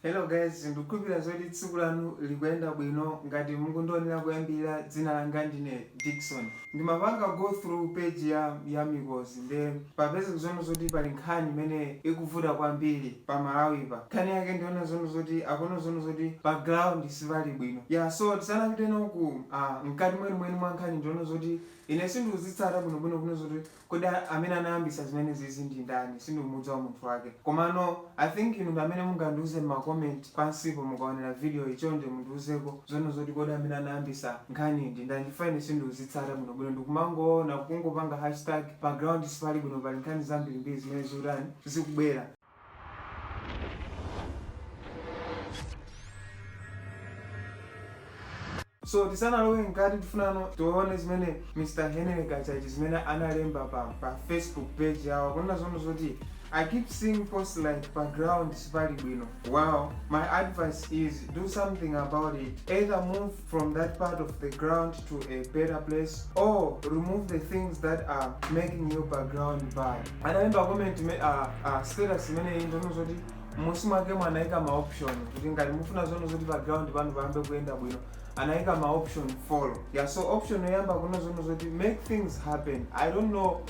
Hello guys, ndikukhulupira zoti tsiku lanu likuyenda bwino ngati mukundionera kuyambirira dzina langa ndine Dickson. Ndimapanga go through page ya ya Mikozi nde papezeka zoona zoti pali nkhani imene ikuvuta kwambiri pa Malawipa. Nkhani yake ndiyonena zoona zoti akuona zoona zoti pa ground sipali bwino. Yah so tisanapite nawo ku aah mkati mwenimweni mwa nkhani ndiyonena zoti ine sindikuzitsata bwinobwino kunena zoti Kodi amene anayambisa zimenezizi ndi ndani sindikumudziwa munthu wake komano I think inu ndi amene mungandiuze mma comment pansipo mukaonera video yi chonde mundiuzeko zoona zoti kodi amene anayambisa nkhaniyi ndi ndani chifukwa ine sindikuzitsata bwino bwino ndikumangoona kungopanga hashtag pa ground sipali bwino pali nkhani zambirimbiri zimene zikutani zikubwera so tisanalowe mkati tifunano tione zimene mr henry kachaje zimene analemba pa, pa facebook page yawo kunena zoona zoti i keep seeing posts like pa ground sipali bwino wow my advice is do something about it either move from that part of the ground to a better place or remove the things that are making your pa ground bad analemba comment me, uh, uh, status imeneyi ndonena zoti mmusi mwakemo anaika ma option kuti ngati mufuna zoona zoti pa ground panu payambe kuyenda bwino anaika ma option four yeah so option yoyamba kunena zoona zoti make things happen i don't know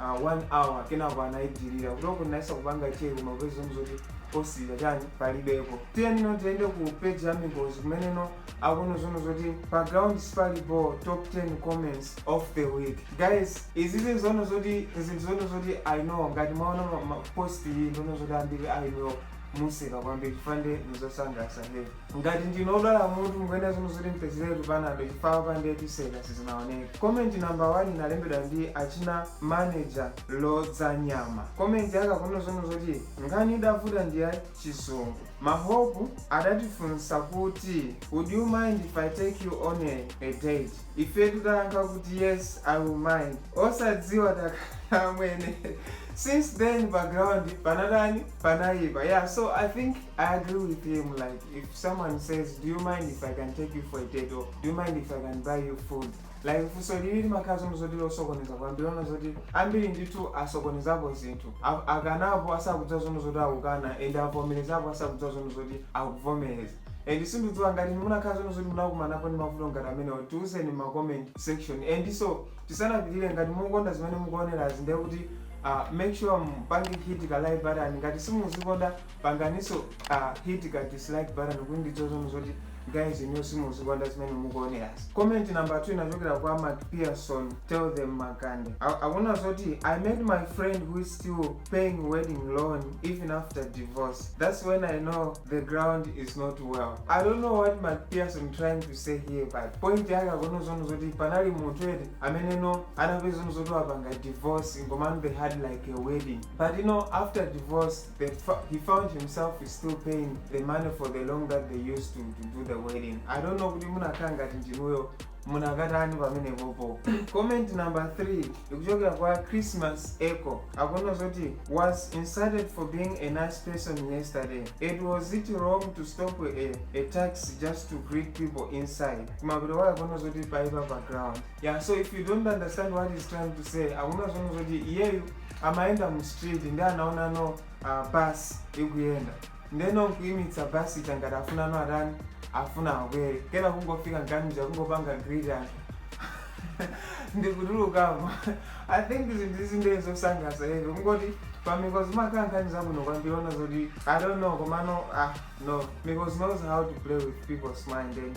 uh, one hour kenako anaidilita kutoko ndinayesa kupanga check koma kupeza zoona zoti post ija chani palibepo tiyenino tiyende ku page ya mikozi kumeneno akunena zoona zoti pa ground sipali bho top 10 comments of the week guys izizi zoona zoti zinthu zoona zoti i know ngati mwaona ma- ma- post iyi ndono zoti ambiri i know museka kwambiri chifukwa nde nizosangalatsa heavy ngati ndinu odwala mutu mukuyenera zoona zoti mupezeretu panado chifukwa apa nde tiseka sizinaoneke komenti namba 1 inalembedwa ndi achina manager lodza nyama komenti yake akunena zoona zoti nkhani idavuta ndi ya chizungu mahope adatifunsa kuti would you mind if i take you on a, a date ife tidayankha kuti yes i will mind osadziwa takana amwene since then pa ground panatani panayipa yeah so i think I agree with him like if someone says do you mind if I can take you for a date or do you mind if I can buy you food like funso ili limakhala zoona zoti losokoneza kwambiri ona zoti ambiri ndithu asokonezapo zinthu A- akanapo asakudziwa zoona zoti akukana and avomerezapo asakudziwa zoona zoti akuvomereza and sindidziwa ngati munakhala zoona zoti munakumanapo ndi mavuto ngati amenewo tiuzeni ma comment section and so tisanapitire ngati mukukonda zimene mukuonerazi ndiye kuti uh, make sure mpange hit ka like button ngati simuzikonda panganiso a hit ka dislike button kuti ndidziwe zoti guys inu simuzikonda zimene mukuonerazi comment number 2 ikuchokera kwa macpherson tell them makande Akunena zoti i met my friend who is still paying wedding loan even after divorce that's when i know the ground is not level i don't know what macpherson trying to say here but point yake akunena zonena zoti panali munthu eti amene no anapeza zonena zoti apanga divorce komano they had like a wedding but you know after divorce He found himself still paying the money for the loan that they used to, to do the wedding. I don't know kuti munakakhala ngati ndinuyo munakatani pamenepopo. Comment number 3 ikuchokera kwa Christmas Echo. Akunena zoti was insulted for being a nice person yesterday. It was it wrong to stop a, a taxi just to greet people inside. Kumapita waya akunena zoti paipa pa ground. Yeah, so if you don't understand what he's trying to say, akunena zonena zoti iyeyu amayenda mu street ndi anaonano uh, bus ikuyenda ndeno nkuyimitsa bus ija ngati afuna no atani afuna akwere kena kungofika mkatimuja kungopanga greet ndikutulukamo i think zinthu izi ndiye zosangalatsa eti kungoti pa mikozi mumakhala nkhani zabwino kwambiri ona zoti i don't know komano ah no mikozi knows how to play with people's mind and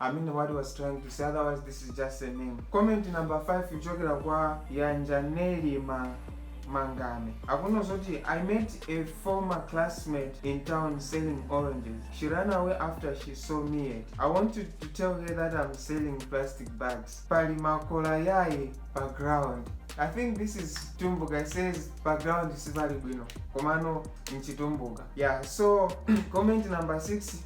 amene what was trying to say otherwise this is just a name comment number 5 kuchokera kwa yanjaneli ma mangame akuno zoti i met a former classmate in town selling oranges she ran away after she saw me yet i wanted to tell her that i'm selling plastic bags pali makola yaye pa ground i think this is tumbuka says pa ground sipali bwino komano mchitumbuka yeah so comment number 6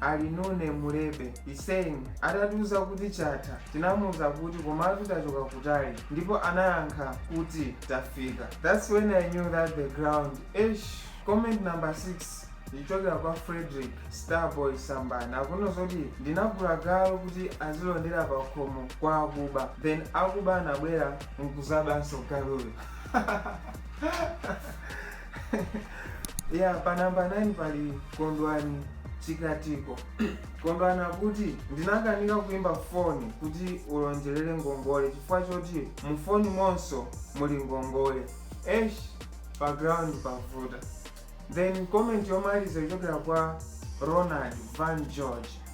Alinune mulebe he's saying atatiuza kuti chatha tinamuuza kuti komatu tachoka kutali ndipo anayankha kuti tafika that's when i knew that the ground eish comment number 6 ikuchokera kwa frederick starboy sambana akunena zoti ndinagula galu kuti azilondera pa khomo kwa akuba then akuba anabwera nkuzabanso galuyo ya pa namba 9 pali kondwani chikatiko kondwani akuti ndinakanika kuimba foni kuti ndilonjerere ngongole chifukwa choti mu foni momonso muli ngongole esh pa ground pavuta then comment yomaliza ikuchokera kwa ronald van george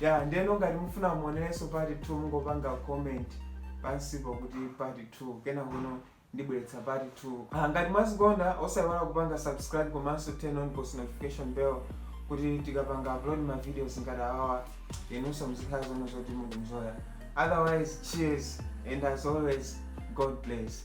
Yeah, ndeno ngati mufuna muonereso part 2 mungopanga comment pansipo kuti part 2 kenako ndibweretsa part 2 ah, ngati mwazikonda osayiwala kupanga subscribe komanso turn on post notification bell kuti tikapanga upload ma videos ngati awawa inunso muzikhala zonena zoti mukunjoya otherwise cheers and as always god bless